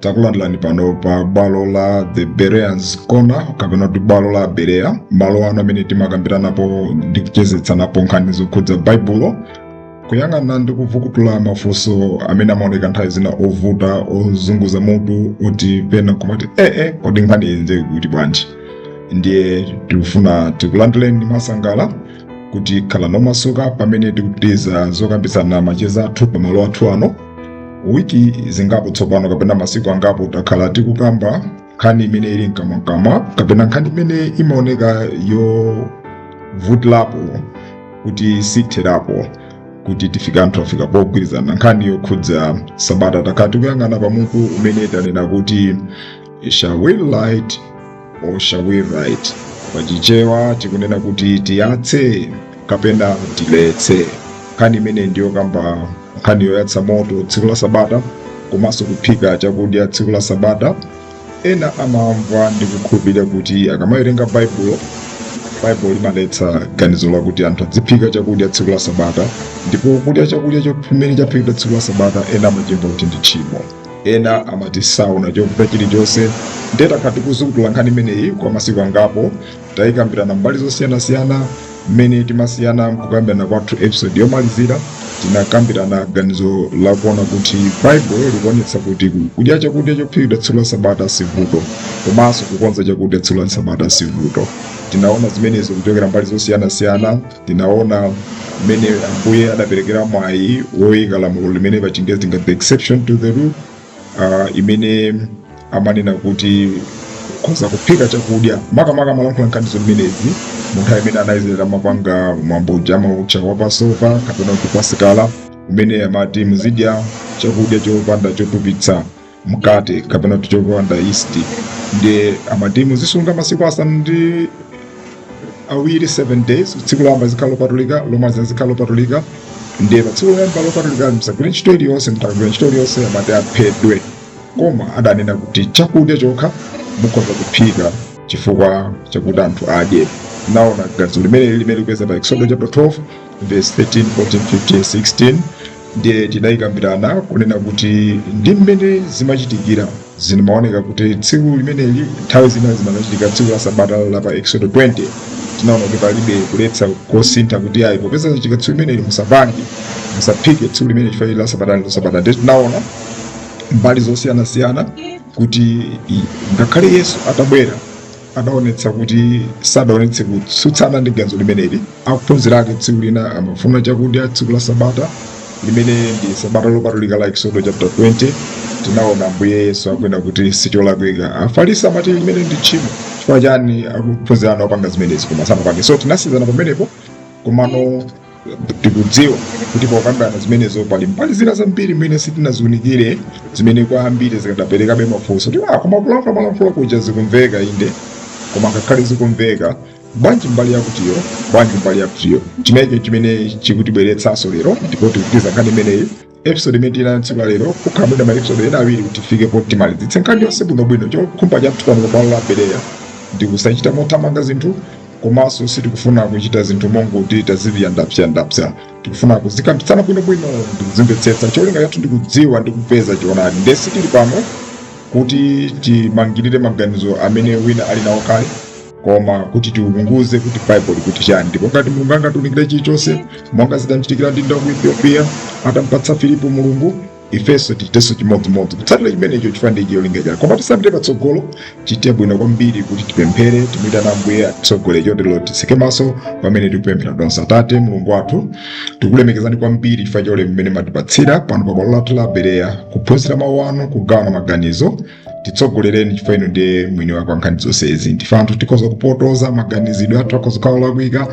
takulandilani pano pa bwalo la the bereans corner kapena kuti bwalo la berea malo ano amene timakambiranapo ndi kuchezetsanapo nkhani zokhudza baibulo kuyang'ana ndi kuvukutula mafunso amene amaoneka nthawi zina ovuta ozunguza mutu oti pena kumati ee kodi nkhani imeneyi ili bwanji ndiye tikufuna tikulandileni mosangalala kuti khalani omasuka pamene tikupitiriza zokambitsana macheza athu pamalo athu ano wiki zingapo tsopano kapena masiku angapo takhala tikukamba nkhani imene ili mkamwakamwa kapena nkhani imene imaoneka yovutilapo kuti sitherapo kuti tifika anthu afika pogwirizana nkhani yokhudza sabata takhala tikuyang'ana pamutu umene tanena kuti shall we light or shall we rest pachichewa tikunena kuti tiyatse kapena tiletse nkhani imene ndiyokamba nkhani yoyatsa moto tsiku la sabata komanso kuphika chakudya tsiku la sabata ena amamva ndi kukhulupirira kuti akamawerenga baibulo baibulo limaletsa ganizo lakuti anthu adziphika chakudya tsiku la sabata ndipo kudya chakudya chimene chaphikidwa tsiku la sabata ena amachimva kuti ndi tchimo Ena amati saona chovuta chilichonse. Ndiye takhala tikuzukuta nkhani imeneyi kwa masiku angapo, tayikambirana mbali zosiyanasiyana, mmene tinasiyana mkukambirana kwathu episode yomalizira tinakambirana ganizo lakuona kuti Bible likuonetsa kuti kudya chakudya chophikidwa tsiku la Sabata sivuto, komanso kukonza chakudya tsiku la Sabata sivuto. Tinaona zimenezo kuchokera mbali zosiyanasiyana. tinaona mmene ambuye adaperekera mwayi woyika lamulo limene pa chingezi tingati the exception to the rule ah, imene amanena kuti ukhoza kuphika chakudya makamaka amalankhula nkhani zimenezi mu nthawi imene ana a izraeli amapanga mwambo uja amautcha wa passover kapena kuti pasika umene amati muzidya chakudya chopanda chotupitsa mkate kapena kuti chopanda yeast ndiye amati muzisunga masiku asanu ndi awiri 7 days tsiku loyamba zikhala lopatulika lomaliza zikhala lopatulika ndiye pa tsiku loyamba lopatulika musagwire ntchito iliyonse mutagwira ntchito iliyonse amati aphedwe koma adanena kuti chakudya chokha mukhoza kuphika chifukwa chakuti anthu adye tinaona ganizo limeneli limene likupezeka pa exodo chapter 12 vesi 13, 14, 15, 16 ndiye tidayikambirana kunena kuti ndi mmene zimachitikira zimaoneka kuti tsiku limeneli nthawi zina zimachitika tsiku la sabata la pa exodo 20 tinaona kuti palibe kuletsa kosintha kuti ayi popeza zachitika tsiku limeneli musapange musaphike tsiku limene chifukwa la sabata ndi sabata ndiye tinaona mbali zosiyanasiyana kuti i- ngakhale yesu atabwera adaonetsa kuti sadaonetse kutsutsana ndi ganizo limeneli. Akuphunzira ake, tsiku lina amafuna chakudya tsiku la Sabata limene ndi Sabata lopatulika la Eksodo chapter 20 tinaona Ambuye Yesu akunena kuti sicholakwika. Afarisi amati limeneli ndi tchimo chifukwa chani akuphunzira anu akupanga zimenezi koma sanapange. So tinasiyana pamenepo komano tikudziwa kuti pokambirana zimenezo, pali mbali zina zambiri zimene sitinaziunikire zimene kwa ambiri zikadaperekabe mafunso kuti ah, koma kulankhula malankhula kuja zikumveka inde koma ngakhale zikumveka bwanji mbali yakutiyo bwanji mbali yakutiyo chimenecho chimene chikutibweretsanso lero ndipo tikupitiriza nkhani imeneyi episode imene tili nayo tsiku la lero kukhala mwina maepisode ena awiri kuti tifike poti timalize nkhani yonse bwinobwino chokhumba chathu pano pa bwalo la bereya ndi kusachita mothamanga zinthu komanso sitikufuna kuchita zinthu mongoti tazipsyandapsyanda tikufuna kuzikambitsana bwinobwino ndi kuzimvetsetsa cholinga chathu ndi kudziwa ndi kupeza choonadi ndiye sitili pano kuti timangirire maganizo amene wina ali nawo kale koma kuti tiunguze kuti baibulo likuti chani ndipo ngati mulungu angatiunikire chilichonse monga zidamchitikira mdindo wa ku ethiopia atamupatsa filipo mulungu ifenso tichitenso chimodzimodzi kutsatira chimenecho chifukwa ndi cholinga chake koma tisapite patsogolo tichite bwino kwambiri kuti tipemphere timuyitane ambuye atitsogole chotero titseke maso pamene tikupemphera tonse atate mulungu wathu tikulemekezani kwambiri chifukwa cha ulemu umene mwatipatsira pano pa bwalo lathu la bereya kuphunzira mawu anu kugawana maganizo titsogolereni chifukwa inu ndiye mwini wake wa nkhani zonsezi ndife anthu tikhoza kupotoza maganizidwe athu akhoza kukhala olakwika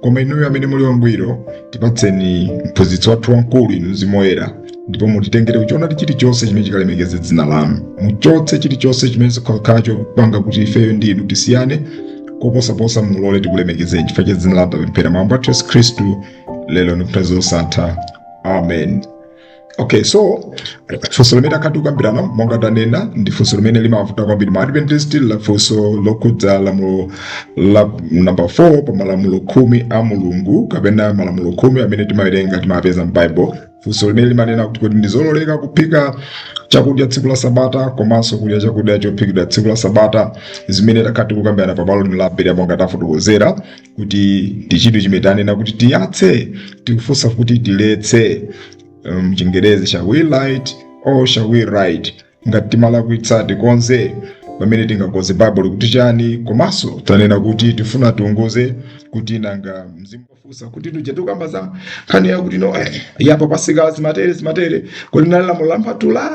koma inuyo amene muli wangwiro tipatseni mphunzitsi wathu wamkulu inu mzimu woyera ndipo mutitengere kuchoonadi chilichonse chimene chikalemekeze dzina lanu muchotse chilichonse chimene chikhoza kukhala chopanga kuti ifeyo ndi inu tisiyane koposaposa mulole tikulemekezeni chifukwa cha dzina lanu tapemphera mwa ambuye athu yesu khristu lero ndi nthawi zosatha amen Okay, so funso limene takhala tikukambirana monga tanena ndi funso limene limavuta kwambiri ma adventist la funso lokhudza lamulo la namba 4 pa malamulo khumi a mulungu kapena malamulo khumi amene timawerenga timapeza m'baibulo funso limene limanena kuti kodi ndizololeka kuphika chakudya tsiku la sabata komanso kudya chakudya chophikidwa tsiku la sabata zimene takhala tikukambirana pa bwalo lino la bereya monga tafotokozera kuti ndi chinthu chimene tanena kuti tiyatse tikufunsa kuti tileke mchingerezi um, shall we light or shall we right ngati timalakwitsa tikonze pamene tingakonze baibulo likuti chani komanso tanena kuti tikufuna tiunguze kuti nanga mzimu wofunsa kuti tija tikukamba za nkhani yakuti no eh, yapa pasika zimatere zimatere kodi nali lamulo la mpatula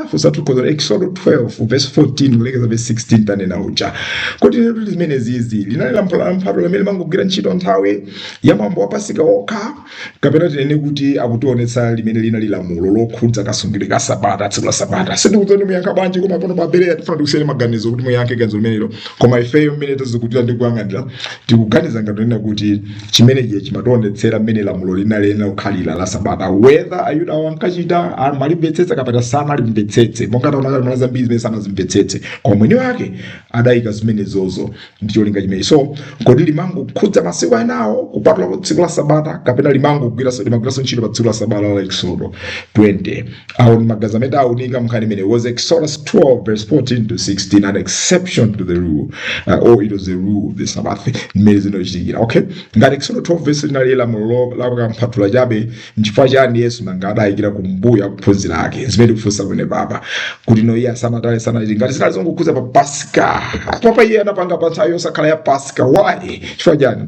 exodo 12 verse 14 kulekeza verse 16 tanena uja kodi zimenezizi linali lamulo la mpatula limene limangogwira ntchito nthawi ya mwambo wa pasika okha kapena tinene kuti akutionetsa limene linali lamulo lokhudza kasungidwe ka sabata tsiku la sabata sindikudziwa muyankha bwanji koma pano pa Bereya tikufuna tikusiyeni maganizo kuti muyankhe ganizo limenelo koma ifeyo mmene tazikumbira ndi kuyang'anira tikuganiza ngati kunena kuti chimenechi chimationetsera mmene lamulo linayenera kukhalira la sabata whether ayuda awo ankachita amalimvetsetsa kapena samalimvetsetse monga taona kale panali zambiri zimene samazimvetsetse koma mwini wake adayika zimenezozo ndi cholinga chimenechi so kodi limangokhudza masiku enawo kupatulapo tsiku la sabata kapena limangogwiranso limagwiranso ntchito pa tsiku la sabata la eksodo 20 Awo ndi maganizo amene tawunika nkhani imeneyi was Exodus 12 verse 14 to 16 an exception to the rule uh, or it was the rule of the Sabbath mmene zimachitikira okay ngati Exodus 12 verse linali lamulo la kampatula chabe nchifukwa chani Yesu nanga adayikira kumbuyo ophunzira ake zimene kufunsa kwene papa kuti no iye asamatale sanati ngati zinali zongokhudza pa Pasika papa iye anapanga pa nthawi yosakhala ya Pasika why chifukwa chani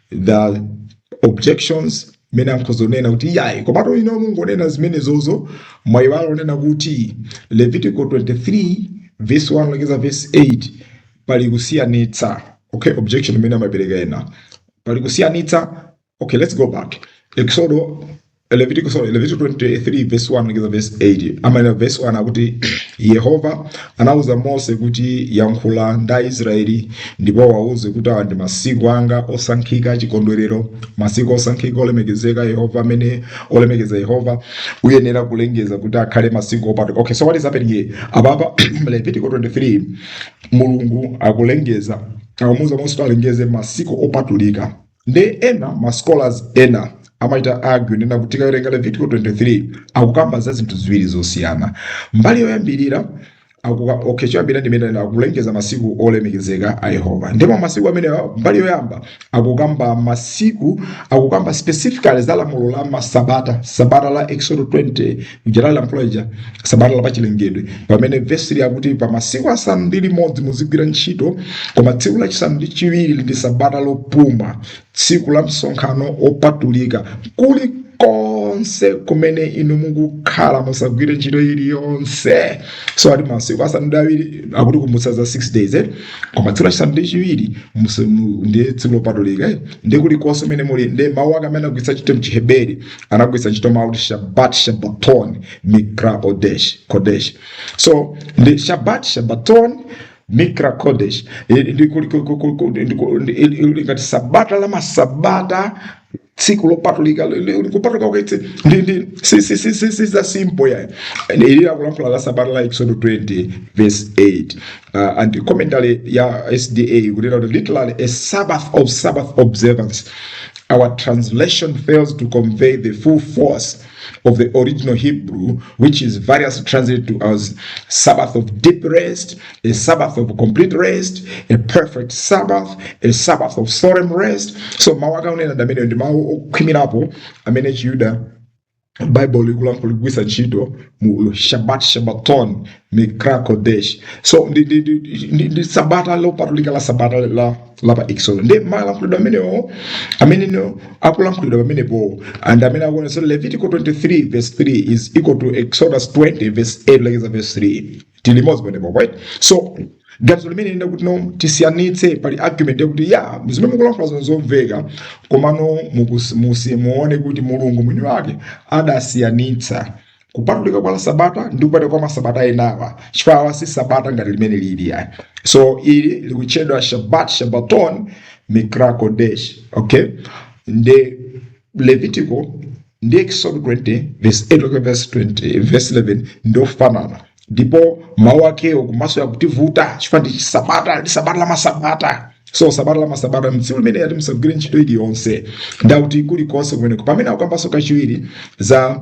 the objections imene akhoza kunena kuti iyayi komatu inu mukungonena zimenezozo mwayiwala kunena kuti levitico 23 verse 1 kulekeza verse 8 pali kusiyanitsa okay objection imene amapereka ena pali kusiyanitsa okay let's go back exodo Levitiko sorry, Levitiko 23 verse 1 mpaka verse 8 amanena verse 1 akuti Yehova anauza Mose kuti yankhula ndi Aisraeli ndipo wauze kuti awa ndi masiku anga osankhika achikondwerero masiku osankhika olemekezeka Yehova amene olemekeza Yehova uyenera kulengeza kuti akhale masiku opatulika okay so what is happening here apapa Levitiko 23 Mulungu akulengeza akumuuza Mose kuti alengeze masiku opatulika nde ena ma scholars ena amachita argue kunena kuti tikawerenga levitiko 23 akukamba za zinthu ziwiri zosiyana mbali yoyambirira akuka okay choyambirira ndi mmene akulengeza masiku olemekezeka a yehova ndipo masiku amenewa mbali yoyamba akukamba masiku akukamba specifically za lamulo la masabata sabata la exodo 20 lija lamulo lija sabata la pachilengedwe pamene vesi 3 akuti pa masiku asanu ndi limodzi muzigwira ntchito koma tsiku lachisanu ndi chiwiri ndi sabata lopuma tsiku la msonkhano opatulika kuli konse kumene inu mukukhala musagwire ntchito iliyonse so ati masiku asanu ndi awiri akuti kumbutsa za 6 days eh? koma tsiku lachisanu ndi chiwiri muse- mu- ndiye tsiku lopatulika eh? ndipo kulikonse kumene muli ndi mawu ake amene agwiritsa ntchito m'Chiheberi anagwiritsa ntchito mawu kuti shabat shabaton mikra kodesh so ndi shabat shabaton mikra kodesh Eh, ndi kuli- ku- ku- ku- ku- ndi ku- ndi- ili- ili ngati sabata la masabata tsiku lopatulika li- li- kupatulika kwake ndi ndi si si si si si za simple ya ili akulankhula la sabata la exodo 20 verse 8 Uh, and commentary ya SDA ikunena kuti literally a sabbath of sabbath observance our translation fails to convey the full force of the original Hebrew, which is variously translated to as Sabbath of deep rest, a Sabbath of complete rest, a perfect Sabbath, a Sabbath of solemn rest. So mawu akaonera ndi amene ndi mawu okhwimirapo amene chiyuda bible likulankhula likugwiritsa ntchito mu shabat shabaton mikra kodesh so ndi, ndi, ndi, ndi, ndi sabata lopatulika la sabata la, la pa exodo nde malankhulidwe amene amenewo akulankhulidwa pamenepo and amene akunso levitico 23 verse 3 is equal to exodus 20 verse 8 lekeza verse 3 tili limodzi pamenepo right so ganizo limene linati kuti no tisiyanitse pali argument yakuti ya zimene mukulankhula zikumveka komano mukus- musi- muone kuti mulungu mwini wake adasiyanitsa kupatulika kwa la sabata ndi kupatulika kwa masabata enawa chifukwa si sabata ngati limene lili ayi so ili likutchedwa shabat shabaton mikrakodesh okay nde levitiko ndi exod 20 verse 8 okay, verse 20 verse 11 ndiofanana ndipo mawu akewo komanso yakutivuta chifukwa ndi chisabata ndi sabata la masabata so sabata la masabata mtsiku limene ati musagwire ntchito iliyonse ndakuti kulikonse kumeneko pamene akukambanso kachiwiri za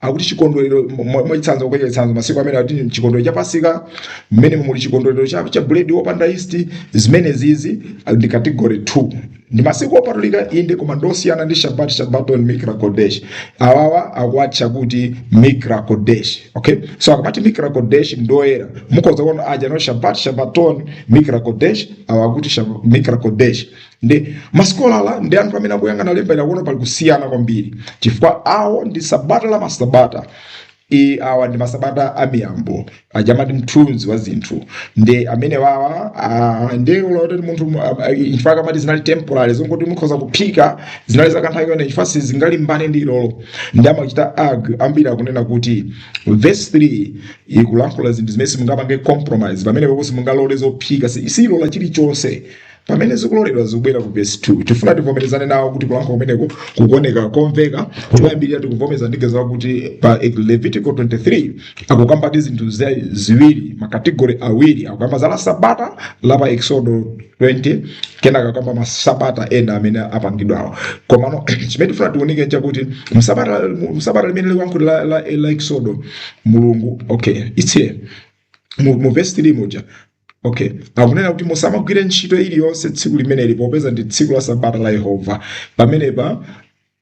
akuti chikondwerero mwachitsanzo kupereka chitsanzo masiku amene akuti chikondwerero cha pasika mmene muli chikondwerero cha, cha buledi wopanda yisti zimenezizi ndi category 2 ndi masiku opatulika inde koma ndosiyana ndi shabat shabaton mikra kodesh awawa akuwatcha kuti mikra kodesh okay so akamati mikra kodesh ndoyera mukhoza kuona aja no shabat shabaton mikra kodesh awa akuti mikra kodesh Nde ma scholar ndi anthu amene akuyang'ana lemba ili akuona pali kusiyana kwambiri, chifukwa awo ndi sabata la masabata i awa ndi masabata a miyambo aja amati mthunzi wa zinthu ndi amene wawa ah, ndi loti munthu mu- ah, ah, chifukwa kamati zinali temporary zongoti mukhoza kuphika zinali zakanthawi inde chifukwa sizingalimbane ndi ilolo nde ma scholar ambiri akunena kuti verse 3 ikulankhula zinthu zimene simungapange compromise pamenepapo simungalole zophika si silola chilichonse pamene zikuloledwa zikubwera ku vesi 2 tifuna tivomerezane nawo kuti kulankhula kumeneko kukuoneka komveka koyambirira tikuvomereza ndithu zakuti pa levitico 23 akukamba zinthu za- ziwiri makategori awiri akukamba za la sabata la pa exodo 20 kenaka akukamba masabata ena amene apachakawo komano chimene tifuna tiunike nchakuti sabata sabata limene likuyankhulidwa la, la, la exodo mulungu okay it's here mu, mu vesi 3 muja Okay. Akunena kuti musamagwire ntchito iliyonse tsiku limeneli popeza ndi tsiku la sabata la Yehova. Pamenepa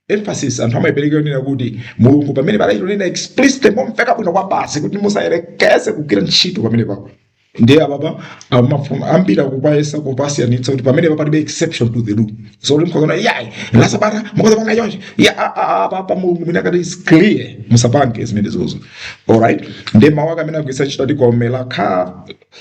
emphasis anthu amayipereka yonena kuti mulungu pamene palankhulidwa explicit momveka bwino kwabasi kuti musayerekeze kugwira ntchito pamene pako ndiye apapa amafuna ambiri akuyesa kupasiyanitsa kuti pamene palibe exception to the rule so kuti mukaona ayi la sabata mukazapanga chonchi ya a- a- a- apapa mulungu mwina akati is clear musapange zimene zozo Alright, nde mawu ake amene agwiritsa ntchito ati kol melakha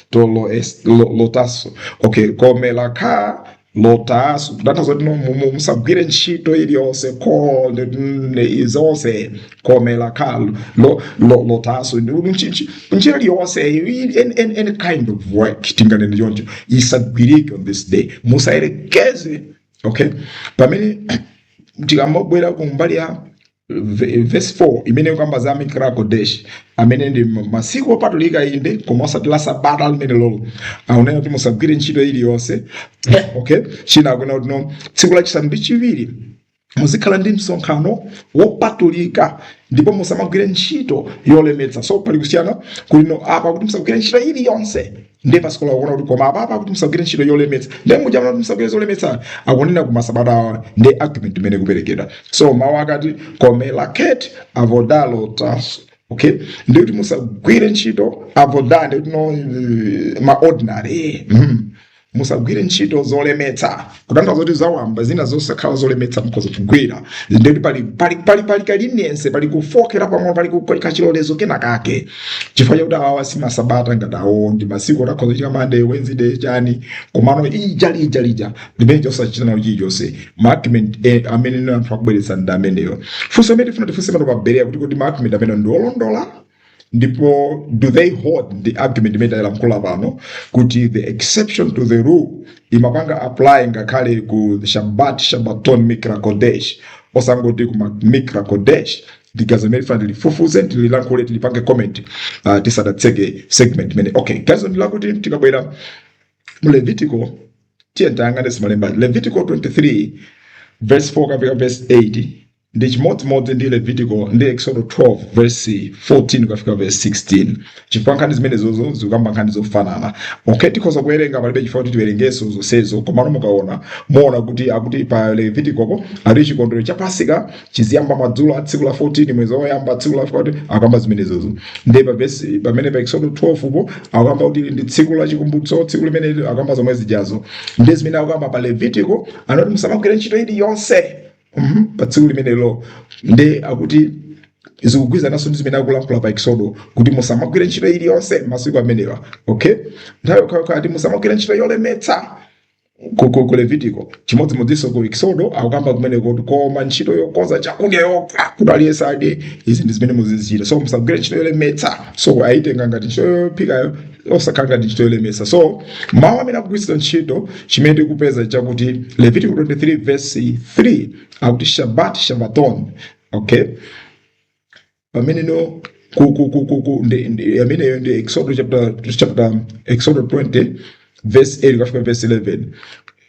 to lo es- lo- lo taasu okay kol melakha lo taasu kutanthauza kuti no- mu- mu- musagwire ntchito iliyonse ko ndi- ndi- zonse kol melakha lo- lo- lo taasu Ndi- ndi- nchi- nchi- ntchito iliyonse any, any, any kind of work tinganene choncho isagwirike on this day musayerekeze okay pamene tikamabwera ku mbali ya vesi 4 imene ikukamba za mikra kodesh amene ndi masiku opatulika inde koma osati la sabata limene lolo akunena kuti musagwire ntchito iliyonse okay chimene akunena kuti no tsiku lachisanu ndi chiwiri muzikhala ndi msonkhano wopatulika ndipo musamagwire ntchito yolemetsa so pali kusiyana kuti apa kuti musagwire ntchito iliyonse ndiye masikola akuona kuti koma apapa kuti musagwire ntchito yolemetsa ndiye muja kuti musagwire zolemetsa akunena ku masabata awa ndi argument imene ikuperekedwa so mawu akati kol melekhet avoda lo taasu okay ndiye kuti musagwire ntchito avoda ndiye kuti no eh, ma ordinary mm. musagwire ntchito zolemetsa kutanthauza kuti zawamba zina zosakhala zolemetsa mukhoza kugwira ndikuti pali pali pali pali ka leniency pali kufookerapo mwina pali ku- pali kachilolezo kena kake chifukwa chakuti awawa si masabata ngati awo ndi masiku oti akhoza kufika mande wednesday chani komano ija lija lija limene tosachita nawo chilichonse maargument eh, amene anthu akubweretsa ndi ameneyo funso limene tifuna tifunse pano pa berea kuti kodi maargument amene ndi olondola ndipo do they hold ndi argument imene tailankhula pano kuti the exception to the rule imapanga apply ngakhale ku shabbat shabbaton mikra kodesh osangoti kuma mikra kodesh ndi gawo limene tifuna tilifufuze tililankhule tilipange comment uh, tisadatseke segment imene okay gawo ndilakuti tikabwera mu levitiko tiye tayang'ane za malemba levitiko 23 verse 4 kapena verse 8 ndi chimodzimodzi ndi levitiko ndi exodo 12 verse 14 kufika verse 16 chifukwa nkhani zimenezozo zikukamba nkhani zofanana okay tikhoza kuwerenga palibe chifukwa kuti tiwerengeso zonsezo komano mukaona muona kuti akuti pa levitikopo ali chikondwero cha pasika chiziyamba madzulo a tsiku la 14 mwezi woyamba tsiku la 14 akamba zimenezozo ndi pa verse pamene pa exodo 12 po akamba kuti ndi tsiku la chikumbutso tsiku limene akamba zomwe zijazo ndi zimene akamba pa levitiko amati musamagwire ntchito iliyonse Mhm. pa tsiku limenelo nde akuti zikugwirizananso ndi zimene akulankhula pa eksodo kuti musamagwire ntchito iliyonse masiku amenewa okay nthawi yokhayokha ati musamagwire ntchito yolemetsa ku- ku ku levitiko chimodzimodzinso ku eksodo akukamba kumeneko kuti koma ntchito yokonza chakudya yokha kuti aliyense adye izi ndi zimene muzizichita so musagwire ntchito yolemetsa so ayitenga ngati ntchito yophikayo osakhala ngati ntchito yolemetsa so mawu amene akugwiritsidwa ntchito chimene tikupeza nchakuti levitiko 23 verse 3 akuti shabat shabaton okay pamene no ku- ku- ku- ku- ku- ndi- ndi- ameneyo nde exodo chapter chapter exodo 20 verse 8 kufika verse 11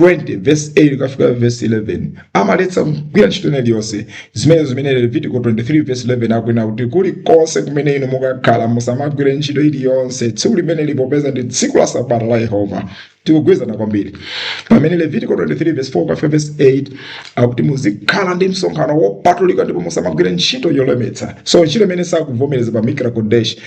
20 verse 8 kukafika verse 11 amaletsa kugwira ntchito ina iliyonse zimene zimene levitiko 23 verse 11 akunena kuti kulikonse kumene inu mukakhala musamagwire ntchito iliyonse tsiku limeneli popeza ndi tsiku la sabata la yehova tikugwirizana kwambiri pamene levitiko 23 verse 4 kukafika verse 8 akuti muzikhala ndi msonkhano wopatulika ndipo musamagwire ntchito yolemetsa so ntchito imene sakuvomereza pa mikra kodesh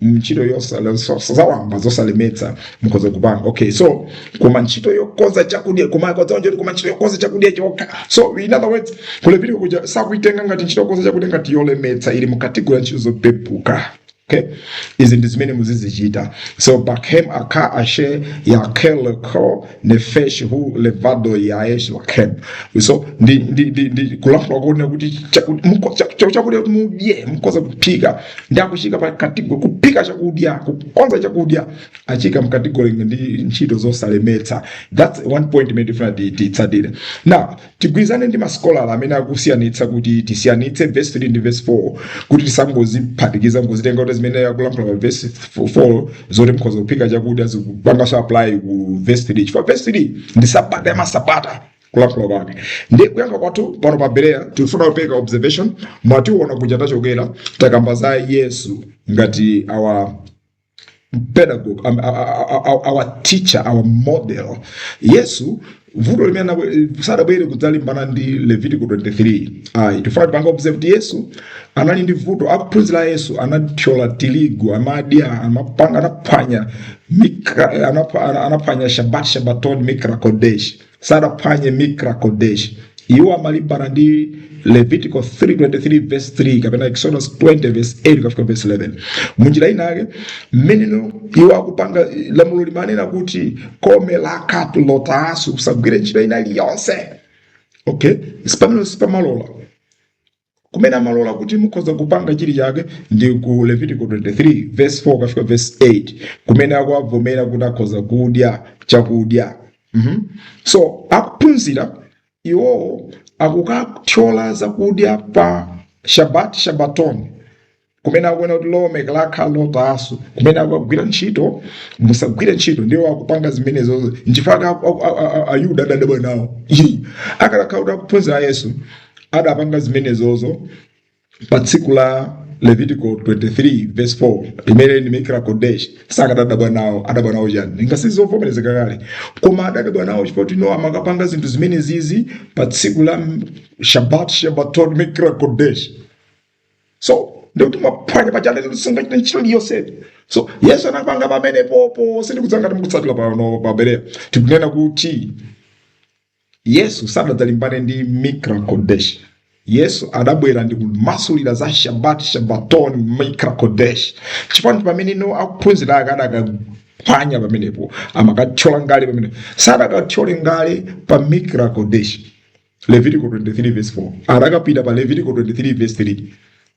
ntchito yosala so- so- zawamba zosalemetsa mukhoza kupanga okay so koma ntchito yokonza chakudya koma kodzaonjoti koma ntchito yokonza chakudya chokha so in other words kuphika kuja sakuitenga ngati ntchito yokonza chakudya ngati yolemetsa ili mu kategori ya ntchito zopepuka okay izi ndi zimene muzizichita so bakem ak ashe yeakel leko nefesh hu levado yease lahem so ndi ndi ndi ndi kulankhula kuona kuti chaku- muko- cha- cha- chakudya kuti mudye mukhoza kuphika nde akuchiika pa kategori kuphika chakudya kukonza chakudya achiika mkategori ndi ntchito zosalemetsa that's one point imene tifuna ti- titsatire now Tigwirizane ndi masikolala amene akusiyanitsa kuti tisiyanitse vesi 3 ndi vesi 4 kuti tisangoziphatikiza nkuzitenga kuti zimene akulankhula pa vesi 4 zoti mukhoza kuphika chakudya zikupanganso apply ku vesi 3 chifukwa vesi 3 ndi sabata ya masabata kulankhula kwake ndi kuyankha kwathu pano pa bereya tikufuna kupanga observation mwationa kuti tachokera takamba za yesu ngati our pedagogue um, our, our teacher our model yesu vuto limene sadabwere kudzalimbana ndi levitiko 23 ayi tifuna tipange observe kuti yesu anali ndi vuto ophunzira a yesu anathyola tirigu amadya amapanga anaphwanya mika- anapha- ana- anaphwanya shabat shabaton mikrakodesh sadaphwanye mikra kodesh iwo amalimbana ndi levitico 23 verse 3 kapena exodus 20 verse 8 kufika verse 11 munjira inake mmene iwo akupanga lamulo limanena kuti komwe lakhala lotasi kusagwira ntchito ina iliyonse okay sipamalo sipamalola kumene amalola kuti mukhoza kupanga chinachake ndi ku levitiko 23 verse 4 kufika verse 8 kumene akuwavomereza kuti akhoza kudya chakudya mm-hmm. so akuphunzira iwowo akukathyola zakudya pa shabat shabaton kumene akuona kuti lamulo lake lakhala lotaso kumene akagwira ntchito musagwire ntchito ndiye iwo akupanga zimenezozo nchifukwa aku- aku- a- a- a- ayuda adadabwa nawo Ii. akadakhala kuti akuphunzira a yesu adapanga zimenezozo pa tsiku la levitico 23 verse 4 limene ndi mikra kodesh sakadadabwa nawo adabwa nawo chani ngati zovomerezeka kale koma adadabwa nawo chifukwa kuti no amakapanga zinthu zimenezizi pa tsiku la shabat shabaton mikra kodesh so ndikuti mwaphwanya paja linati musagwire ntchito iliyonse so yesu anapanga pamenepopo sindikudziwa ngati mukutsatira pano pa bereya tikunena kuti yesu sadadzalimbane ndi mikra kodesh yesu adabwera ndikumasulira za shabat shabaton mikra kodesh chipani pamene akuphunzira ake adakaphwanya pamenepo amakathyola ngala pamene sadakathyole ngala pa mikra kodesh levitiko 23 verse 4 anakapita pa levitiko 23 verse 3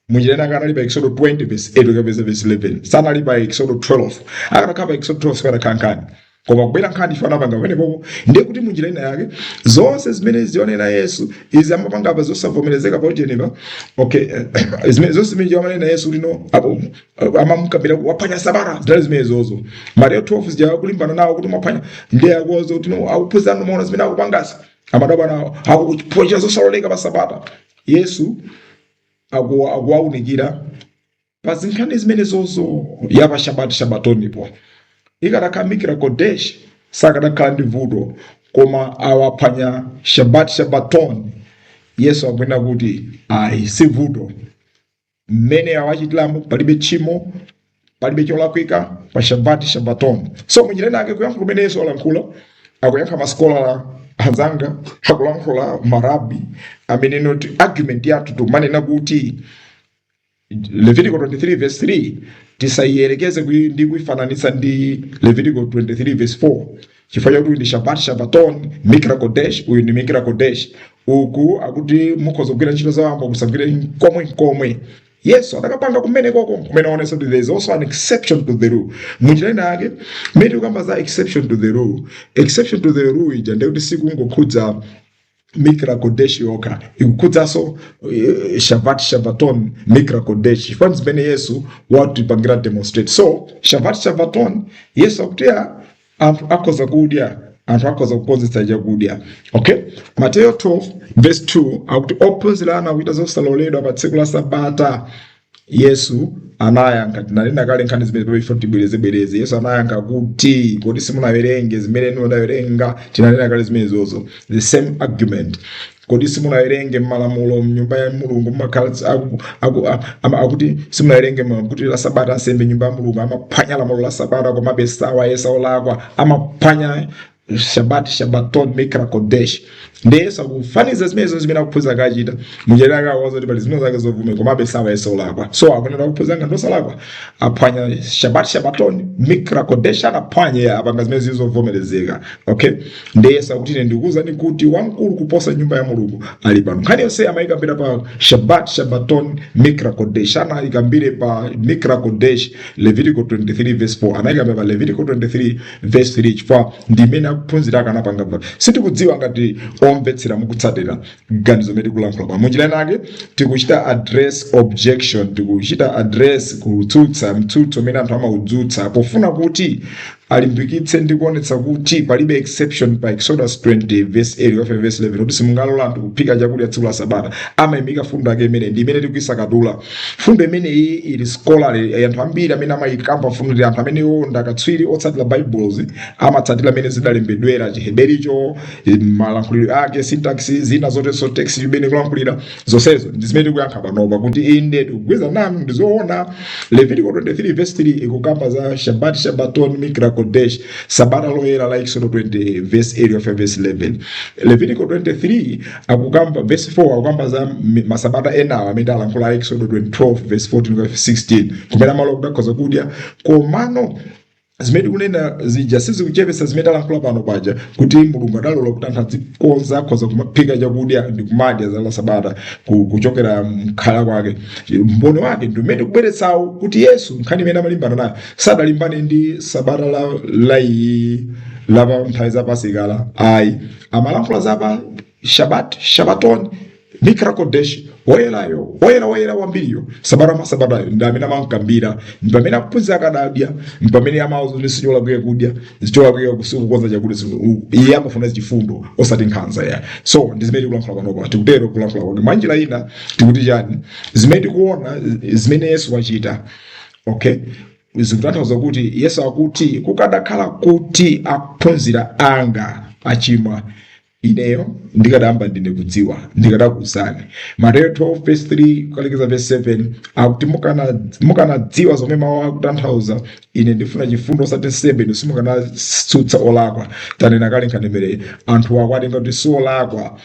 muchitani akanali pa eksodo 20 verse 8 kufika verse 11 sanali pa eksodo 12 akanakhala pa eksodo 12 sikanakhala nkhani koma ikubwera nkhani chifukwa anapanga pamenepopo ndiye kuti munjira ina yake zonse zimene timaona yesu izi amapanga apa zosavomerezeka pa ujeni okay eh, zimene- zonse zimene timaona yesu lino apo amamukambira waphwanya sabata zidali zimenezozo mateyo 12 zija akulimbana nawo kuti mwaphwanya ndiye akuwauza kuti no, akuphunzira anu mwaona zimene akupangazi amadabwa nawo akuchita zosaloleka pa sabata yesu akuwaunikira pa zinkhani zimenezozo ya pa shabati shabatonipo ikadakhala mikra kodesh sakadakhala ndi vuto koma awaphwanya shabati shabatoni yesu akunena kuti ayi si vuto mmene awachitiramo palibe tchimo palibe cholakwika pa shabati shabaton so munjira inake kuyankha kumene yesu alankhula akuyankha masikola anzanga akulankhula marabi amene kuti argument yathu timanena kuti levitico 23 verse 3 tisayiyerekeze kui- ndi kuifananitsa ndi levitico 23 verse 4 chifukwa chakuti ndi shabat shabaton mikra kodesh uyu ndi mikra kodesh uku akuti mukhoza kugwira ntchito za wamba musagwire nkomwe nkomwe yesu adakapanga kumene koko kumene aonetsa kuti there is also an exception to the rule munjira ina yake mmene tikukamba za exception to the rule exception to the rule ija ndekuti sikungokhudza mikra kodesh yokha ikukhudzanso eh, shabat shabaton mikra kodesh chifukwa zimene yesu watipangira demonstrate so shabat shabaton yesu akuti ya anthu akhoza kudya anthu akhoza kukonzetsa chakudya okay mateyo 12 verse 2 akuti ophunzira anu akuchita zosaloledwa pa tsiku la sabata Yesu anayankha, tinanena kale nkhani zimenezi pamene tifuna tibwerezebwereze. Yesu anayankha kuti, kodi simunawerenge zimene inu munawerenga? Tinanena kale zimenezozo, the same argument. Kodi simunawerenge m'malamulo m'nyumba ya Mulungu mumakhala tsi- aku- aku- a- ama- akuti simunawerenge ma- kuti la sabata ansembe m'nyumba ya Mulungu amaphwanya lamulo la sabata komabe sawayesa olakwa amaphwanya shabat shabaton mikra kodesh ndiye akufaniza zimenezo zimene ophunzira akachita muchitira akawaza kuti pali zimene zake zovume komabe samayesedwa olakwa so akunena ophunzira ngati osalakwa aphwanya shabat shabaton mikra kodesh anaphwanya apanga zimene zili zovomerezeka okay ndiye akuti ine ndikuwuzani kuti wamkulu kuposa nyumba ya mulungu ali pano nkhani yonse amayikambira pa shabat shabaton mikra kodesh anayikambire pa mikra kodesh levitico 23 verse 4 anayikambira pa levitico 23 verse 3 chifukwa ndi imene ophunzira akanapanga pa sitikudziwa ngati omvetsera mukutsatira ganizo imene tikulankhula pa munjira inake tikuchita address objection tikuchita address kutsutsa mtsutso umene anthu amaudzutsa pofuna kuti alimbikitse ndi kuonetsa kuti palibe exception pa exodus 20 verse 8 kufika verse 11 kuti simungalole anthu kuphika chakudya tsiku la sabata amaimika fundo yake imene ndi imene tikuisakatula fundo imeneyi ili scholarly eh, anthu ambiri amene amayikamba fundo ndi anthu amene iwo ndi akatswiri otsatira baibulo amatsatira amene zidalembedwera chihebericho eh, malankhulidwe ake syntax zina zotenso text imene kulankhulira zonsezo ndi zimene tikuyankha panopa kuti inde tikugwirizana nanu ndi zoona levitiko 23 verse 3 ikukamba za shabat shabaton mikra kodesh sabata loyera la exodo 20 verse 8 of verse 11 levitiko 23 akukamba verse 4 akukamba za m- masabata enawo amene alankhula exodo 12 verse 14 to 16 kumene amalola kuti akhoza kudya komano zimene tikunena zija sizikuchepetsa zimene talankhula pano paja kuti mulungu adalola kuti anthu azikonza akhoza kumaphika chakudya ndi kumadya za masabata ku- kuchokera mkhala kwake mboni wake ndi umene kubweretsawo kuti yesu nkhani imene amalimbana nayo sadalimbane ndi sabata la, la iyi la pa nthawi za pasikala ayi amalankhula za shabat shabaton mikra kodesh woyerayo woyera woyera kwambiriyo sabata mwa sabatayo ndi amene amakambira ndi pamene akuphunzira akadadya ndi pamene amauza kuti sicholakwika kudya sicholakwika kukonza chakudya tsiku- iye amafuna chifundo osati nkhanza ya so ndi zimene tikulankhula panopa tikutero kulankhula kuti mwa njira ina tikuti chani zimene tikuona zimene yesu wachita okay zikutanthauza kuti yesu akuti kukadakhala kuti akuphunzira anga achimwa ineyo ndikadayamba ndine kudziwa ndikadakuuzani mateyo 12 verse 3 kukalekeza verse 7 akuti mukana- mukanadziwa zomwe mawu akutanthauza ine ndifuna chifundo osati nsembe inu simukanasutsa olakwa tanena kale nkhanimere anthu akwatenga kuti si olakwa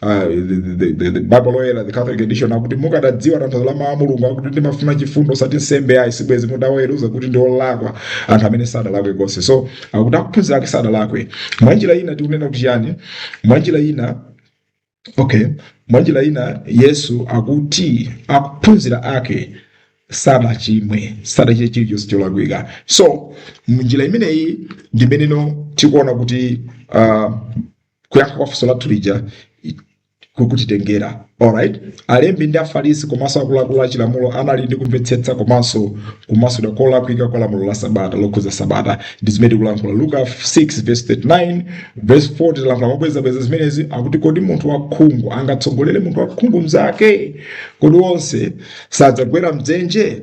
Uh, the, the, the, the Bible oyera the Catholic edition akuti mukadadziwa tanthauzo la mawu a Mulungu akuti ndimafuna chifundo osati nsembe ayi sibwezi mudaweruza kuti ndi olakwa anthu amene sadalakwe konse so akuti akuphunzira ake sadalakwe mwanjira ina tikunena kuti chiyani mwanjira ina okay mwanjira ina yesu akuti akuphunzira ake sadachimwe sadachite chilichonse cholakwika so mnjira imeneyi ndi mmeneno tikuona kuti uh, kuyankha kwa funso lathu lija i- ku- kutitengera alright alembi ndi afarisi komanso akuluakulu a chilamulo anali ndi kumvetsetsa komanso kumasulira kolakwika kwa lamulo la sabata lokhudza sabata ndi zimene tikulankhula luka 6 verse 39 verse 40 talankhula mobwezabweza zimenezi akuti kodi munthu wakhungu angatsogolere munthu wakhungu mnzake kodi onse sadzagwera mdzenje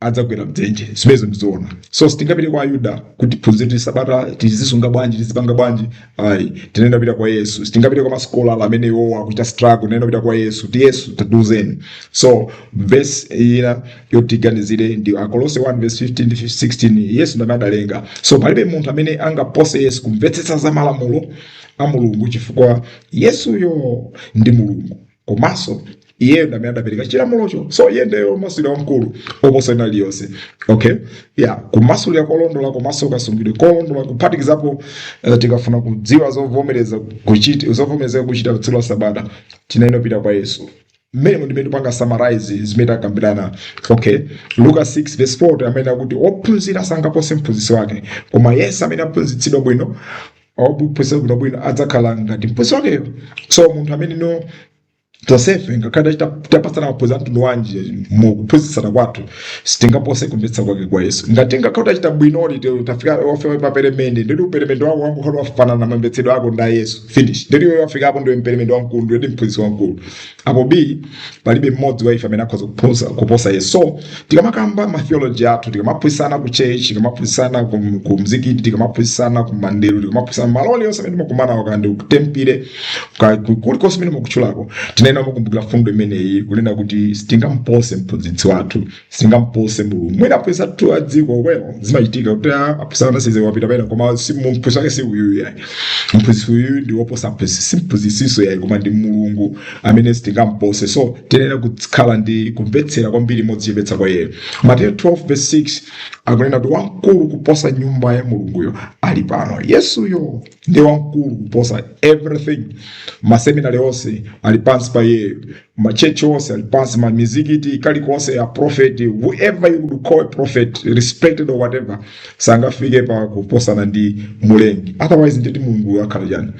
adzagwera mdzenje zimenezi ndizoona so sitingapite kwa ayuda kuti tiphunzire sabata tizisunga bwanji tizipanga bwanji ayi tiyenera kupita kwa yesu sitingapite kwa masikola amene iwowo akuchita struggle tiyenera kupita kwa yesu kuti yesu tatiuzeni so verse ina yoti tiganizire ndi akolose 1 verse 15 ndi 16 yesu ndamene adalenga so palibe munthu amene angapose yesu kumvetsetsa za malamulo a mulungu chifukwa yesuyo ndi mulungu komanso iyeyo ndi amene adapereka chilamulocho so iye ndiye womasulira wamkulu oposa wina aliyense okay ya kumasulira kolondola komanso kasungidwe kolondola kuphatikizapo eh, tikafuna kudziwa zovomereza kuchita zovomerezeka kuchita tsiku la sabata tiyenera pita kwa yesu mmene ndimene tipanga summarize zimene takambirana okay luka 6 verse 4 amene akuti ophunzira sangapose mphunzitsi wake koma yense amene aphunzitsidwa bwino ophunzira bwino bwino adzakhala ngati mphunzitsi wakeyo so munthu amene no tonsefe ngakhale tapatsana maphunziro a mtundu wanji mu kuphunzitsana kwathu sitingapose kumvetsa kwake kwa yesu ngati tikhala tachita bwinoli te- tafika ofewa paperemende ndili uperemende wako wangokhala wafanana kamvetsedwe kako nda yesu finish ndili iwe wafikapo ndiwe mperemende wamkulu ndili mphunzitsi wamkulu apo b palibe mmodzi wa ife amene akhoza kuposa, kuposa yesu so tikamakamba matheology athu tikamaphunzitsana ku church tikamaphunzitsana ku mzikiti tikamaphunzitsana ku mandelo tikamaphunzitsana malo alionse amene timakumanawo kaya ndi kutempile kaya ku- kulikonse amene mukuchulako tiyenera kukumbukira mfundo imeneyi kunena kuti sitingampose mphunzitsi wathu sitingampose mulungu mwina aposatu a dziko zimachitika kuti a- apwesa ana size wapita pena koma si- mphunzitsi wake si uyu yayi mphunzitsi uyu ndi woposa mphunzitsi si mphunzitsiso yayi koma ndi mulungu amene sitingampose so tiyenera kukhala ndi kumvera kwambiri modzichepetsa kwa iyeyo mateyo 12 verse 6 akunena kuti wamkulu kuposa nyumba ya mulunguyo ali pano yesuyo ndiye wamkulu kuposa everything maseminary onse ali pansi pa iyeyo machechi onse ali pansi mamizikiti kalikonse a prophet whoever you would call a prophet respected or whatever sangafike pa kuposana ndi mulengi otherwise nditi mulungu akhala chani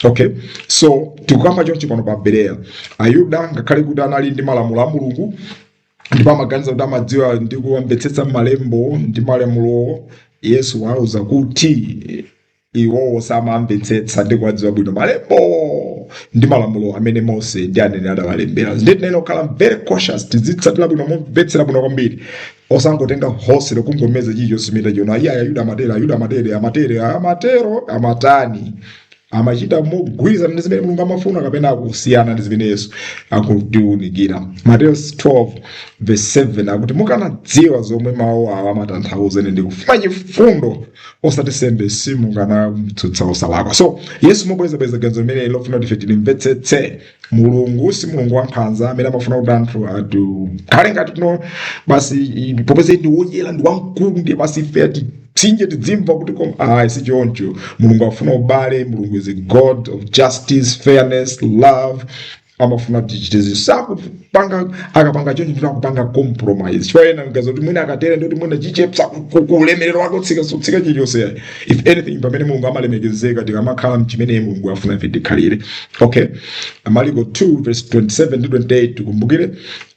okay so tikukamba chonchi pano pa bereya ayuda ngakhale kuti anali ndi malamulo a mulungu ndipo amaganiza kuti amadziwa ndi kuwamvetsetsa malembo ndi malamulowo yesu wauza kuti iwowo samamvetsetsa ndi kuwadziwa bwino malembowo ndi malamulo amene mose ndi aneneri adawalembera ndiye tiyenera kukhala very cautious tizitsatira bwino momvetsera bwino kwambiri osangotenga hosere kungomeza chilichonse chimene tachiona ayi ayuda amatero ayuda amatere amatere amatero amatani amachita mogwirizana ndi zimene mulungu amafuna kapena akusiyana ndi zimene yesu akutiunikira mateyo 12 verse 7 akuti mukanadziwa zomwe mawu awa amatanthauza ine ndikufuna chifundo osati nsembe simukanamtsutsa osalakwa so yesu mobwerezabwereza ganizo limene ali kufuna kuti ife tilimvetsetse mulungu si mulungu wankhanza amene amafuna kuti anthu azikhala ngati tino basi i- popeza ndi woyera ndi wamkulu ndiye basi ife ati titsinje tizimva kuti kom ayi si choncho mulungu afuna ubale mulungu is a god of justice fairness love amafuna kuti tichite zinthu sikupanga akapanga choncho kuti akupanga compromise chifukwa ena amaganiza kuti mwina akatere ndikuti mwina achepsa ku- ku- ku ulemerero wake utsika siutsika chilichonse yayi if anything pamene mulungu amalemekezeka tikamakhala mchimene mulungu afuna ife tikhalire okay maliko 2 verse 27 ndi 28 tikumbukire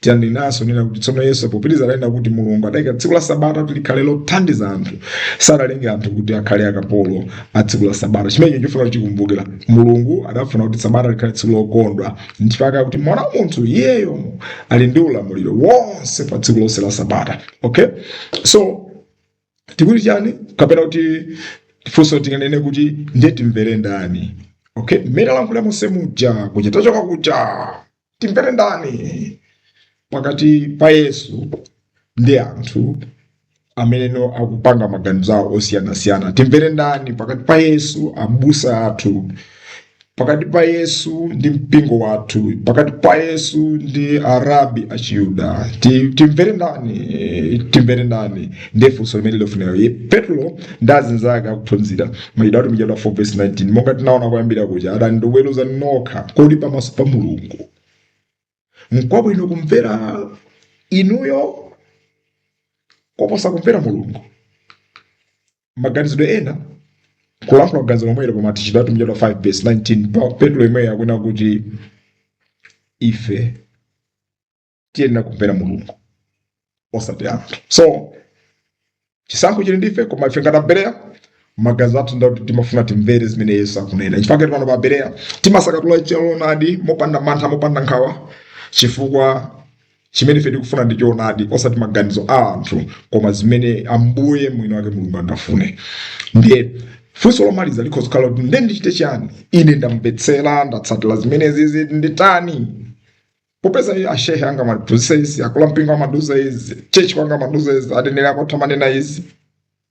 yananenanso kunena kuti tsono yesu popitiriza adanena kuti mulungu adayika tsiku la sabata kuti likhale lothandiza anthu sadalenga anthu kuti akhale akapolo a tsiku la sabata chimenecho chofuna kuti tikumbukire mulungu adafuna kuti sabata likhale tsiku lokondwa nchifukwa akuti mwana wa munthu iyeyo ali ndi ulamuliro wonse pa tsiku lonse la sabata okay so tikuti chani kapena kuti funso tinganene kuti ndiye timvere ndani okay mmene alankhula mose muja kuja tachoka kuja timvere ndani pakati pa yesu ndi anthu ameneno akupanga maganizo awo osiyanasiyana timvere ndani pakati pa yesu ndi abusa athu pakati pa yesu ndi mpingo wathu pakati pa yesu ndi arabi achiyuda Ti- timvere ndani timvere ndani ndiye funso limeneli lofunika petro ndi azinzake akuphunzira Machitidwe a Atumwi chaputala 4 vesi 19 monga tinaona kuyambira kuja adati weruzani nokha kodi pamaso pa mulungu nkwabwino kumvera inuyo koposa kumvera mulungu maganizidwe ena kulankhula kuganiza lomwelo pa Machitidwe a Atumwi chaputala 5 vesi 19 petro yemweyo akunena kuti ife tiyenera kumvera mulungu osati anthu so chisankho chili ndife koma ife ngati abereya maganizo athu ndakuti timafuna timvere zimene yesu akunena chifukwa ngati abereya timasakatula choonadi mopanda mantha mopanda nkhawa chifukwa chimene ife tikufuna ndi choonadi osati maganizo a anthu koma zimene ambuye mwini wake mulungu angafune ndiye funso lomaliza likhoza kukhala kuti nde ndichite chani ine ndamvetsera ndatsatira zimenezi nditani popeza ine ashehe anga amatiphunzitsa izi akulu ampingo amatiuza izi tchetchi kwanga amatiuza izi aneneri akwathu amanena izi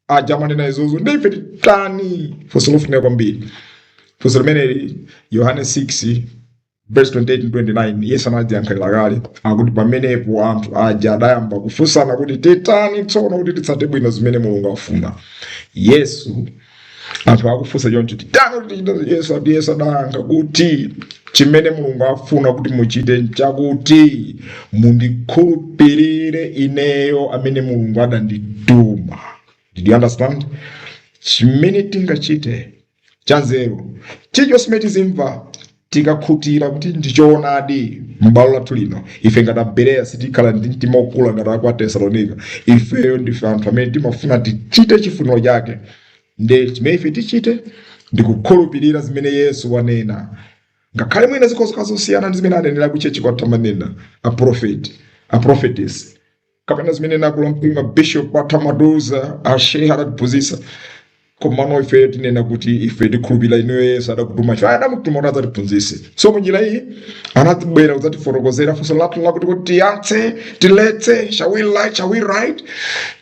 aja amanena izozo ndi ife titani funso lofunika kwambiri funso limeneli yohane 6 verse 28 and 29 yesu anaziyankhira kale akuti pamenepo anthu aja adayamba kufunsana kuti titani tsono kuti titsate bwino zimene mulungu afuna yesu anthu akufunsa choncho titani yesu akuti yesu adayankha kuti chimene mulungu afuna kuti muchite nchakuti mundikhulupirire ineyo amene mulungu adandituma did you understand chimene tingachite chanzeru chilichonse chimene tizimva tikakhutira kuti ndi choonadi m'bwalo lathu lino ife ngati abereya sitikhala ndi mtima ouma ngati aku atesalonika ifeyo ndife anthu amene timafuna tichite chifuniro chake nde chimene ife tichite ndi kukhulupirira zimene yesu wanena ngakhale mwina zikhoza kukhala zosiyana ndi zimene aneneri kutchetchi kwathu amanena aprofeti aprofetesi kapena zimene akulu ampingo abishopu athu amatiuza ashehe adatiphunzitsa komano ife tinene kuti ife tikhulupirira inuyo yesu adakutuma ife adamutuma kuti adzatiphunzitse so munjira iyi anangobwera kudzatifotokozera funso lathu lakuti kuti tiyatse tileke shall we light shall we light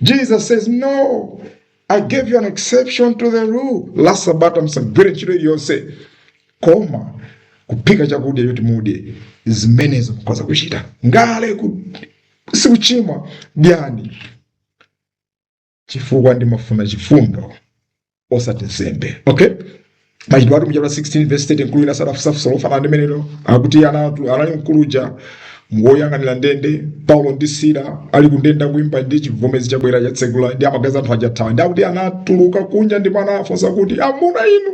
jesus says no I gave you an exception to the rule. La sabata msagwire ntchito iliyonse koma kuphika chakudya choti mudye zimenezo mukhoza kuchita ngakhale sikuchimwa dyani chifukwa ndimafuna chifundo osati nsembe okay Machitidwe atumwi chaputala 16 vesi 30 mkulu wina adafunsa funso lofanana ndi limenelo akuti anatuluka anali mkulu uja woyang'anira ndende paulo ndi sila ali kundende akuimba ndiye chivomezi chabwera chatsegula ndiye amaganiza anthu aja athawa ndiye akuti anatuluka kunja ndipo anafunsa kuti amuna inu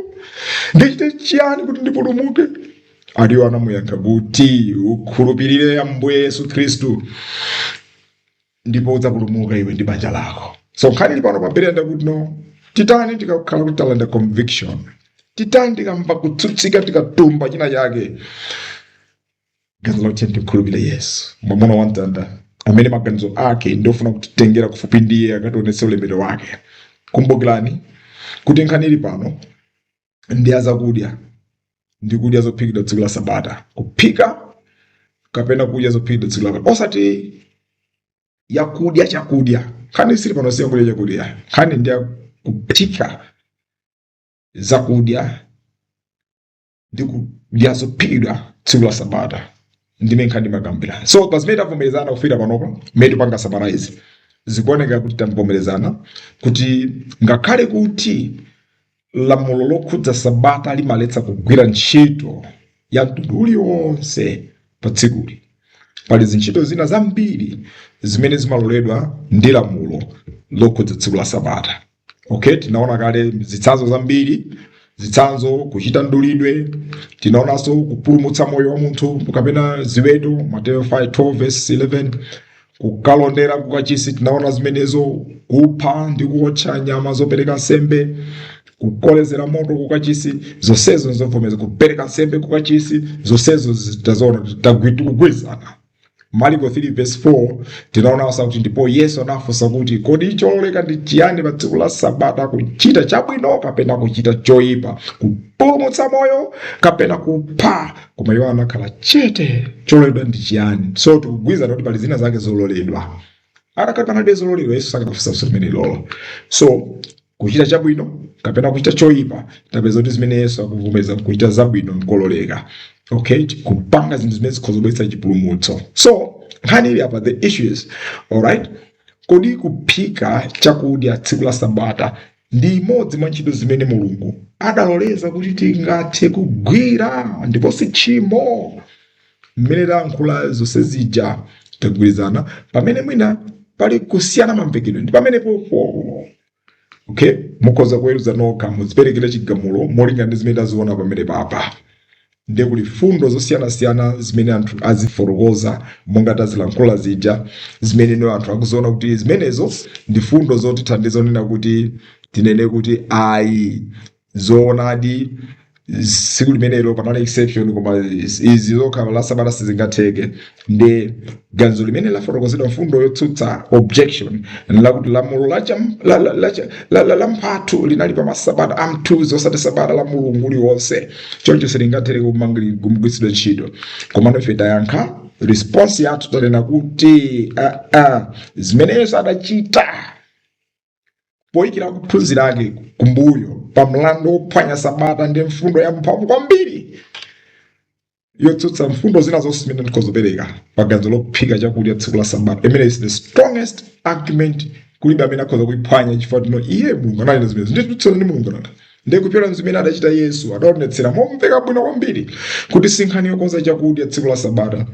ndichite chiyani kuti ndipulumuke ali iwo anamuyankha kuti ukhulupirire ambuye yesu khristu ndipo udzapulumuka iwe ndi banja lako so nkhani ili pano abale ndi yakuti no titani tikakhala kuti talandira conviction titani tikamva kutsutsika tikatuma china chake ganizo lakuti ndikhulupire yesu mwamuna wa mtanda amene maganizo ake ndiofuna kutitengera kufupi ndi iye akationetse ulemerero wake kumbukirani kuti nkhani ili pano ndi ya kuphika zakudya ndi kudya zophikidwa tsiku la sabata kuphika kapena kudya zophikidwa tsiku la osati yakudya chakudya nkhani ili pano si yakudya chakudya nkhani ndi ya kuphika zakudya ndi kudya zophikidwa tsiku la sabata ndiye nkhani tikukambirana so pa zimene tavomerezana kufika panopo mmene tikupanga summarize zikuoneka kuti tavomerezana kuti ngakhale kuti lamulo lokhudza sabata limaletsa kugwira ntchito ya mtundu uliwonse pa tsikuli pali zintchito zina zambiri zimene zimaloledwa ndi lamulo lokhudza tsiku la sabata okay tinaona kale zitsanzo zambiri zitsanzo kuchita mdulidwe tinaonanso kupulumutsa moyo wa munthu kapena ziweto mateyo 12 verse 11 kukalondera kukachisi tinaona zimenezo kupha ndi kuotcha nyama zopereka nsembe kukolezera moto kukachisi zonsezo nzovomeza kupereka nsembe kukachisi zonsezo zija tazoona tagwi tikugwirizana mariko 3 verse 4 tinaonanso kuti ndipo yesu anafunsa kuti kodi chololeka ndi chiyani pa tsiku la sabata kuchita chabwino kapena kuchita choyipa kupulumutsa moyo kapena kupha koma iwo anakhala chete chololedwa ndi chiyani so tikugwirizana kuti pali zina zake zololedwa patakhalabe zololedwa yesu sakanafunsa funso limenelolo so kuchita chabwino kapena kuchita choyipa tapeza kuti zimene yesu akuvomeza kuchita zabwino nkololeka okay kupanga zinthu zimene zikhoza kubweretsa chipulumutso so nkhani ili apa the issue is alright kodi kuphika chakudya tsiku la sabata ndi imodzi mwa ntchito zimene Mulungu adaloleza kuti tingathe kugwira ndipo si tchimo. Mmene tayankhula zonse zija tagwirizana pamene mwina pali kusiyana mamvekedwe ndi pamenepopo. Okay? Mukhoza kuweruza nokha mudziperekere chigamulo molingana ndi zimene taziona pamenepapa. Ndiye kuli mfundo zosiyanasiyana zimene anthu azifotokoza monga tazilankhula zija zimene mwina anthu akuziona kuti zimenezo ndi mfundo zotithandiza ponena kuti tinene kuti ayi zoonadi tsiku limenelo panali exception koma izi zokha a sabata sizingatheke ndi ganizo limene lidafotokozedwa mfundo yotsutsa objection nlakuti lamulo la cham- la- la- la- la- la- la mphatu linali pa masabata a mthunzi osati sabata la mulungu uliwonse choncho silingathere kumangiri- kumgwiritsidwa ntchito komano ife tuyankha response yathu tunena kuti ah, ah, zimene yesu adachita poikira akuphunzira ake kumbuyo pa mlandu wophwanya sabata ndi mfundo ya mphamvu kwambiri yotsutsa mfundo zina zonse zimene ndikhoza kupereka paganizo lophika chakudya tsiku la sabata imeneyi is the strongest argument kulibe amene akhoza kuiphwanya chifukwa tino iye mulungu ananena zimene nditsutsana ndi mulungu nanga ndi kupyolera zimene adachita yesu adaonetsera momveka bwino kwambiri kuti sinkhani yokonza chakudya tsiku la sabata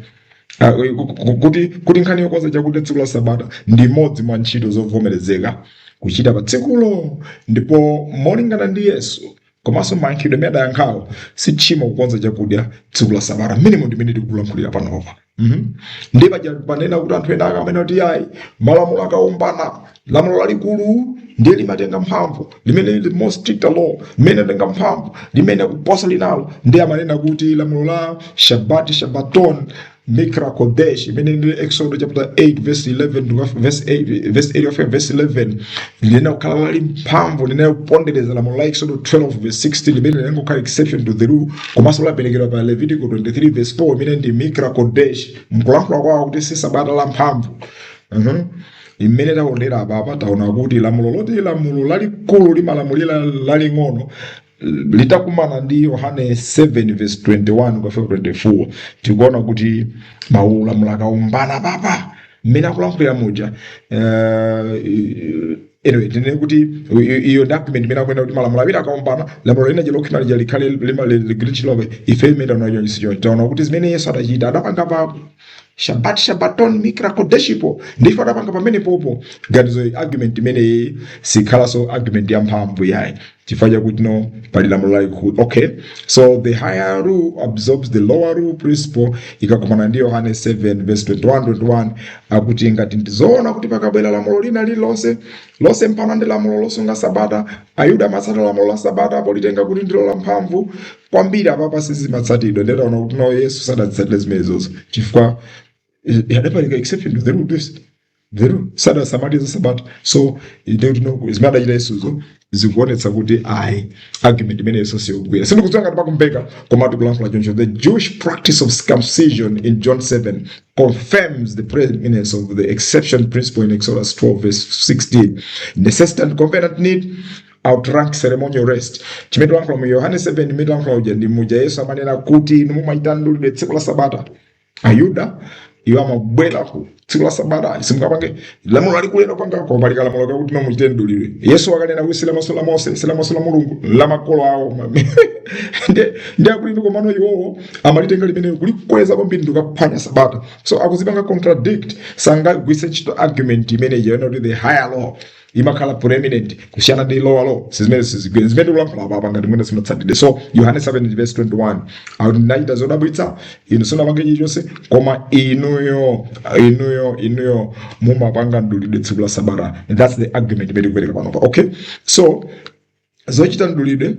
Ah, ku- ku- ku- kuti kuti nkhani yokonza chakudya tsiku la sabata ndi imodzi mwa ntchito zovomerezeka kuchita pa tsikulo ndipo molingana ndi yesu komanso mayankhidwe amene adayankhawo si tchimo kukonza chakudya tsiku la sabata minimum mmene tikulankhulira panopa Mhm. ndi paja panena kuti anthu ena akamanena kuti ayi malamulo akaombana lamulo lalikulu ndiye limatenga mphamvu limene lili more stricter law limene limatenga mphamvu limene kuposa linalo ndiye amanena kuti lamulo la shabati shabaton mikra kodesh limene ndi exodo chapter 8 verse 11 to verse 8 verse 8 of verse 11 linena kukhala lamphamvu linena kupondereza lamulo la exodo 12 verse 16 limene linena kukhala exception to the rule komanso laperekedwa pa levitico 23 verse 4 imene ndi mikra kodesh mkulankhula kwawo kuti si sabata la mphamvu Mhm. Imene taonera apapa taona kuti lamulo loti lamulo lalikulu limalamulira laling'ono litakumana ndi Yohane 7 verse 21 kufika 24 tikuona kuti malamulo akaombana papa mmene akulankhulira muja eh, anyway tinene kuti i- i- iyo document imene ikunena kuti malamulo awiri akaombana lamulo lina jelokimali jalikhale limagwiritsidwabe ife imene taona chonchisicho taona kuti zimene yesu adachita adapanga pa shabat shabaton mikra kodesh ndiye adapanga pamenepopo ganizo argument imeneyi sikhalanso argument ya mphamvu yayi chifukwa chakuti no pali lamulo lalikulu okay so the higher rule absorbs the lower rule principle ikakumana ndi yohane 7 verse 21 21 akuti ngati ndizoona kuti pakabwera lamulo lina lililonse losemphana ndi lamulo losunga sabata ayuda amatsata lamulo la sabata politenga kuti ndilo la mphamvu kwambiri apapa sizimatsatidwa ndiye taona kuti naye yesu sadatsatire zimenezozo chifukwa eh, adapereka exception to the rule the rule sadasamalize sabata so ndekuti no zimene adachita yesuzo zikuonetsa kuti ayi argument imeneyo siyogwira sindikudziwa ngati pakumveka koma tikulankhula choncho the jewish practice of circumcision in john 7 confirms the preeminence of the exception principle in exodus 12 verse 16 necessity and covenant need outright ceremonial rest chimene tilankhula mu yohane 7 imene tilankhula uja ndi muja yesu amanena kuti inu mumachita mdulidwe tsiku la sabata ayuda iwo amabwera ku tsiku la sabata simungapange lamulo lalikulera panga koma pali kalamulo kakuti muzichita mdulidwe yesu akunena kuti silamulo la mose silamulo la mulungu la makolo awo Nde- ndi akuti ndi komano iwowo amalitenga limene kulikweza kwambiri nkukaphwanya sabata so akuzipanga contradict sangagwise ntchito argument imene ija ona kuti the higher law imakhala preeminent kusiyana ndi lower law sizimene sizigwira zimene tikulankhula apa apa ngati mwina simumatsatira so yohane 7 verse 21 akuti ndinachita zodabwitsa inu simungapange chilichonse koma inuyo inuyo inuyo mumapanga mdulidwe tsiku la sabata that's the argument imene tikupereka panopa okay so Zochita mdulidwe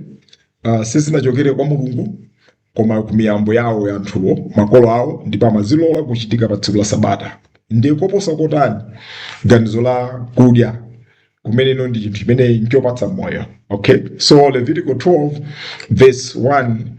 uh, sizinachokere kwa Mulungu koma ku miyambo yawo ya anthuwo makolo awo ndipo amazilola kuchitika pa tsiku la sabata ndiye koposa kotani ganizo la kudya kumene ino ndi chinthu chimene nchopatsa moyo okay so levitico 12 verse 1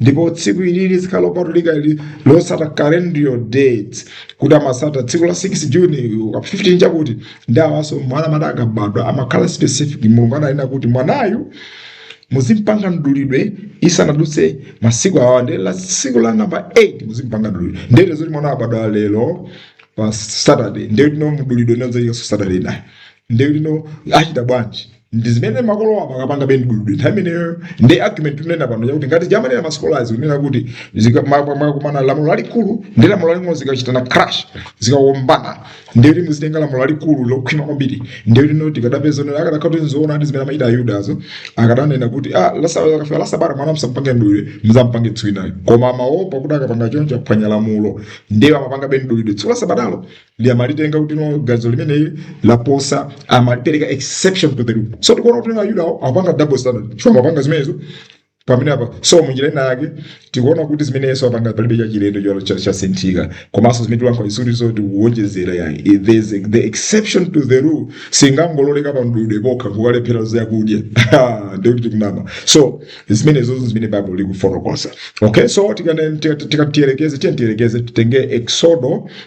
ndipo tsiku ili lizikhala lopatulika ili losata calendrical dates kuti amasata tsiku la 6 juni 15 chakuti ndi awanso mwana amene akabadwa pamakhala specific mulungu ananena kuti mwanayu muzimpanga mdulidwe isanadutse masiku awa nde la tsiku la namba 8 muzimpanga mdulidwe ndiye kuti mwana abadwa lero pa saturday ndekuti no mdulidwe nenzoikanso saturday naye nde lino achita bwanji ndi zimene makolowo apa akapanga bendibwibwi nthawi imeneyo ndi argument tikunena pano yakuti ngati jamanena masikolazi kunena kuti zika- ma- ma- ma- kumana lamulo lalikulu ndi lamulo laling'ono zikachitana crash zikawombana ndiye kuti muzitenga lamulo lalikulu lokhwima kwambiri ndiye kuti no tikadapeza onera akadakhala kuti nzoona ndi zimene amachita ayudazo akadanena kuti ah lasa- akafika lasabata mwana msampange mdulidwe mzamupange tsiku linalo koma amaopa kuti akapanga choncho aphwanya lamulo ndiye amapanga bendibwibwi tsiku lasabatalo ndiye amalitenga kuti no ganizo limeneli laposa amalipereka exception to the rule so tikuona kuti no ayudawo akupanga double standard chifukwa akupanga zimenezo pamene apa so munjira ina yake tikuona kuti zimene yesu apanga palibe chachilendo olo cha- chasinthika komanso zimene tilankhula sizili zoti kuwonjezera ya there's a- the exception to the rule singangololeka pa mdulidwe pokha nkukalephera zakudya ndekuti tikunama so zimenezo zimene bible likufotokoza okay so tikane- tika- tika- tiyerekeze tiye tiyerekeze titenge exodo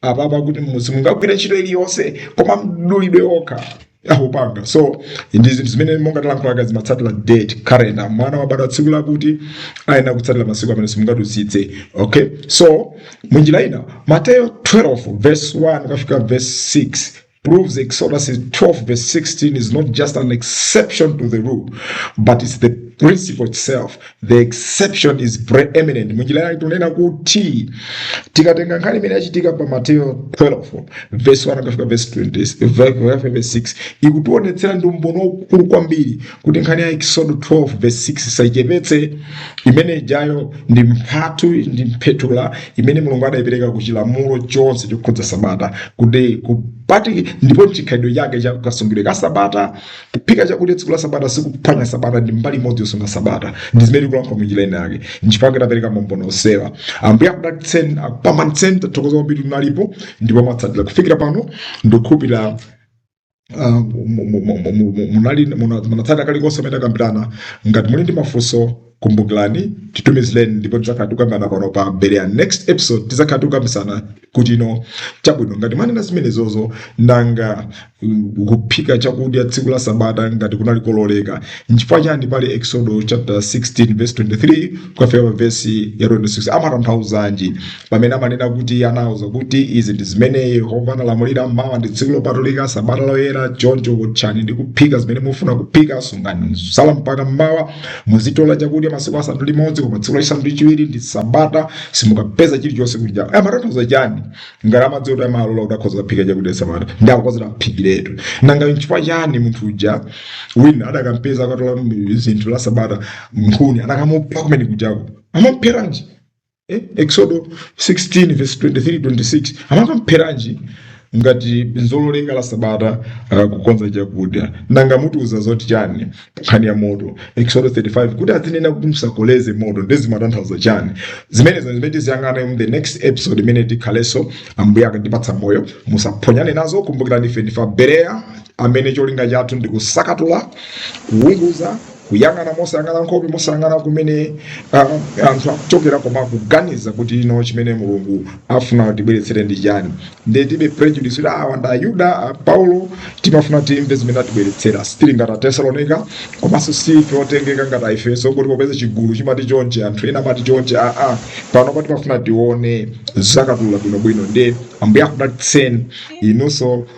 apapa akuti simungagwire ntchito iliyonse koma mdulidwe okha akupanga so ndi zinthu zimene monga talankhulaga zimatsatira date calendar mwana wabadwa tsiku lakuti ayenera kutsatira masiku amene simungadusitse okay so munjira ina mateyo 12 verse 1 kafika verse 6 proves Exodus 12, verse 16 is not just an exception to the rule, but it's the principle itself. The exception is preeminent. Munjira yake tunena kuti tikatenga nkhani imene yachitika pa Mateyo 12 verse 1 kufika verse 20 verse 6 ikutionetsera ndi umboni waukulu kwambiri kuti nkhani ya Eksodo 12 verse 16 tisaichepetse imene ijayo ndi mphatu ndi mphetula imene mulungu adayipereka ku chilamulo chonse chokhudza sabata kuti kupati ndipo mchikhalidwe chake cha kasungidwe ka sabata kuphika chakudya tsiku la sabata sikuphwanya sabata ndi mbali imodzi yosunga sabata ndi zimene tikulankhula mu njira ina yake nchifukwa tapereka maumboni onsewa ambuye akudalitseni akupambanitseni tathokoza kwambiri munalipo ndipo mwatsatira kufikira pano ndikukhulupirira ah, munatsata kalikonse kamene takambirana ngati muli ndi mafunso kumbukirani titumizireni ndipo tidzakhala tikukambirana pano pa berea next episode tidzakhala tikukambitsana kuti no chabwino ngati mwanena zimenezozo nanga mm, kuphika chakudya tsiku la sabata ngati kunali kololeka nchifukwa chani pali eksodo chapter 16 verse 23 kukafika pa vesi ya 26 amatanthauzanji pamene amanena kuti iye anawauza kuti izi ndi zimene yehova analamulira mmawa ndi tsiku lopatulika sabata loyera choncho wotchani ndi kuphika zimene mufuna kuphika sungani zotsala mpaka mmawa muzitola chakudya masiku asanu ndi limodzi koma tsiku lachisanu ndi chiwiri ndi sabata simukapeza chilichonse kuja amatanthauza chani ngati amadziwa kuti amalola kuti akhoza kuphika chakudya sabata ndi akukonzera aphikiretu nanga nchifukwa chani munthu uja wina adakampeza akutola zinthu la sabata nkhuni anakamupha kumene kujako amamupheranji eh? eksodo 16 verse 23 26 amakampheranji ngati nzololeka la sabata uh, kukonza chakudya nanga mutiuza zoti chani nkhani ya moto eksodo 35 kuti azinena kuti musakoleze moto ndiye zimatanthauza chani zimenezo zimene tiziyang'ana mu the next episode imene tikhalenso ambuye akatipatsa moyo musaphonyane nazo kumbukirani ife ndife abereya amene cholinga chathu ndi kusakatula kuwunguza kuyang'ana mosayang'ana nkhope mosayang'ana kumene ah, anthu akuchokera koma kuganiza kuti no chimene mulungu afuna atibweretsere ndi chani ndiye tilibe prejudice kuti awa ndi ayuda a paulo timafuna timve zimene atibweretsera sitili ngati atesalonika komanso si ife otengeka ngati aefeso kuti popeza chigulu chimati chonchi anthu ena amati chonchi aa pano pati tifuna tione tisakatule bwinobwino ndiye ambuye akudalitseni inunso